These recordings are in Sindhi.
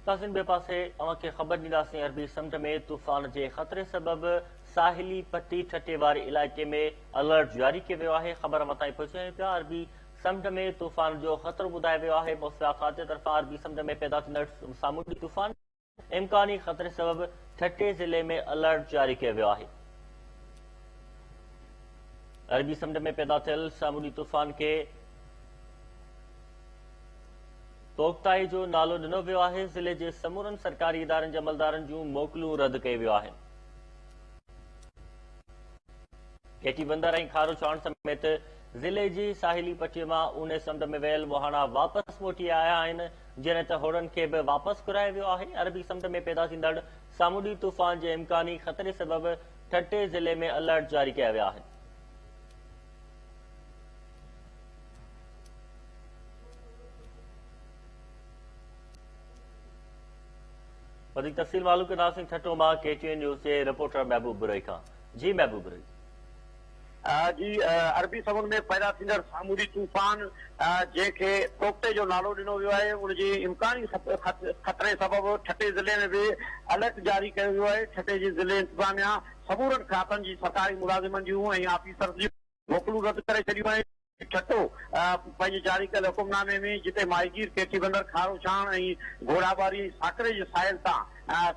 ناظرين ٻئي پاسي اوهان کي خبر ڏينداسين عربي سمنڊ ۾ طوفان جي خطري سبب ساحلي پٽي ٺٽي واري علائقي ۾ الرٽ جاري ڪيو ويو آهي خبر اوهان تائين پهچايون آهيون پيا عربي سمنڊ ۾ طوفان جو خطرو ٻڌايو ويو آهي موسميات خاتي طرفان عربي سمنڊ ۾ پيدا ٿيندڙ سامونڊي طوفان امڪاني خطري سبب ٺٽي ضلعي ۾ الرٽ جاري ڪيو ويو آهي. عربي سمنڊ ۾ پيدا ٿيل سامونڊي طوفان کي توختائي جو نالو ڏنو ويو آهي، ضلعي جي سمورن سرڪاري ادارن جي عملدارن جون موڪلون رد ڪيو ويو آهن. گهيٽي بندر ۽ کارو چاڻ سميت ضلعي جي ساحلي پٽي مان اونهي سمنڊ ۾ ويل مهاڻا واپس موٽي آيا آهن، جڏهن ته هوڙن کي به واپس گهرايو ويو آهي، عربي سمنڊ ۾ پيدا ٿيندڙ سامونڊي طوفان جي امڪاني خطري سبب ٺٽي ضلعي ۾ الرٽ جاري ڪيا ويا آهن. وڌيڪ تفصيل معلوم ڪنداسين ٺٽو مان ڪي ٽي اين نيوز جي رپورٽر محبوب برهي کان. جي محبوب ري. جي عربي سمنڊ ۾ پيدا ٿيندڙ سامونڊي طوفان جنهن کي توڪٽي جو نالو ڏنو ويو آهي ان جي امڪاني خطري سبب ٺٽي ضلعي ۾ به الرٽ جاري ڪيو ويو آهي ٺٽي جي ضلعي انتظاميا سمورن کاتن جي سرڪاري ملازمن جون ۽ آفيسرز جون موڪلون رد ڪري ڇڏيون آهن. ٺٽو، پنهنجي جاري ڪيل حڪم نامي ۾ جتي ماهيگير ڪيٺي بندر، کارو ڇاڻ ۽ گهوڙاٻاري ۽ ساڪري جي ساحل تان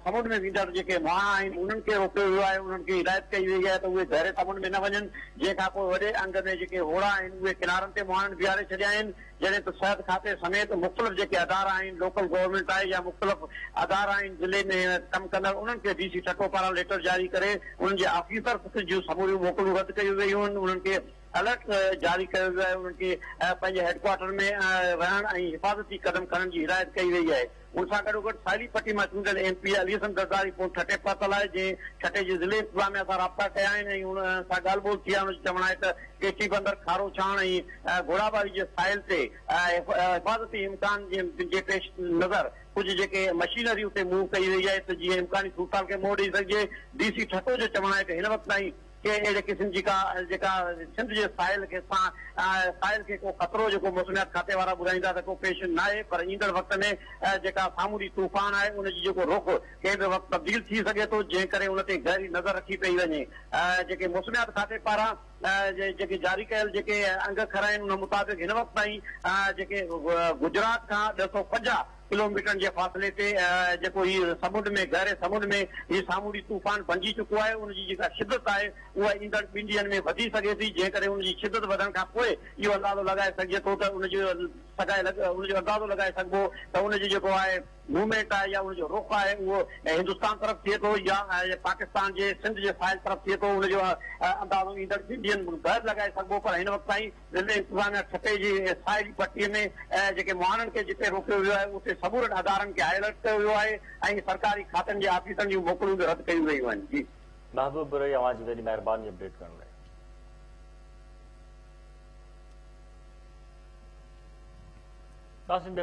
سمنڊ ۾ ويندڙ جيڪي مهاڻا آهن انهن کي روڪيو ويو آهي انهن کي هدايت ڪئي وئي آهي ته اهي گهري سمنڊ ۾ نه وڃن جنهن کانپوء وڏي انگ ۾ جيڪي هوڙا آهن اهي ڪنارن تي مهاڻن بيهاري ڇڏيا آهن جڏهن ته صحت کاتي سميت مختلف جيڪي ادارا آهن، لوڪل گورنمينٽ آهي يا مختلف ادارا آهن ضلعي ۾ ڪم ڪندڙ انهن کي ڊي سي ٺٽو پاران ليٽر جاري ڪري انهن جي آفيسرس جون سموريون موڪلون رد ڪيون ويون آهن انهن کي الرٽ جاري ڪيو ويو آهي انهن کي پنهنجي هيڊڪوارٽر ۾ رهڻ ۽ حفاظتي قدم کڻڻ جي هدايت ڪئي وئي آهي. ان سان گڏوگڏ ساحلي پٽي مان چونڊيل M P A Ali Hassan Zardari phone ٺٽي پهتل آهي، جنهن ٺٽي جي ضلعي انتظاميا سان رابطا ڪيا آهن ۽ ان سان ڳالهه ٻولهه ٿي آهي، ان جو چوڻ آهي ته ڪيچي بندر، کارو ڇاڻ ۽ گهوڙاباري جي ساحل تي حفاظتي امڪان جي پيش نظر ڪجهه جيڪي مشينري اتي موو ڪئي وئي آهي ته جيئن امڪاني صورتحال کي منهن ڏئي سگهجي، ڊي سي ٺٽو جو چوڻ آهي ته هن وقت تائين. ڪنهن اهڙي قسم جي ڪا جيڪا سنڌ جي ساحل کي سان ساحل کي ڪو خطرو جيڪو موسميات کاتي وارا ٻڌائيندا ته ڪو پيش ناهي پر ايندڙ وقت ۾ جيڪا سامونڊي طوفان آهي ان جي جيڪو رخ ڪنهن به وقت تبديل ٿي سگهي ٿو جنهن ڪري ان تي گهري نظر رکي پئي وڃي جيڪي موسميات کاتي پاران جيڪي جاري ڪيل جيڪي انگ کر آهن ان مطابق هن وقت تائين جيڪي گجرات کان ٻه سؤ پنجاهه ڪلوميٽرن جي فاصلي تي جيڪو هي سمنڊ ۾ گهري سمنڊ ۾ هي سامونڊي طوفان بنجي چڪو آهي ان جي جيڪا شدت آهي اها ايندڙ ٻن ڏينهن ۾ وڌي سگهي ٿي جنهن ڪري ان جي شدت وڌڻ کان پوء اهو اندازو لڳائي سگهجي ٿو ته ان جو سگهائي لڳ ان جو اندازو لڳائي سگهبو ته ان جو جيڪو آهي موومينٽ آهي يا ان جو رخ آهي اهو هندستان طرف ٿئي ٿو يا پاڪستان جي سنڌ جي ساحل طرف ٿئي ٿو ان جو اندازو ايندڙ ٻن ڏينهن ۾ ٻهر لڳائي سگهبو پر هن وقت تائين ضلعي انتظاميا ٺٽي جي ساحلي پٽي ۾ جيڪي مهاڻن کي جتي روڪيو ويو آهي اتي سمورن ادارن کي هاء الرٽ ڪيو ويو آهي ۽ سرڪاري کاتن جي آفيسرن جون موڪلون به رد ڪيون ويون آهن جي. محبوب برهي اوهان جي وڏي مهرباني اپڊيٽ ڪرڻ لاء. قاسم بي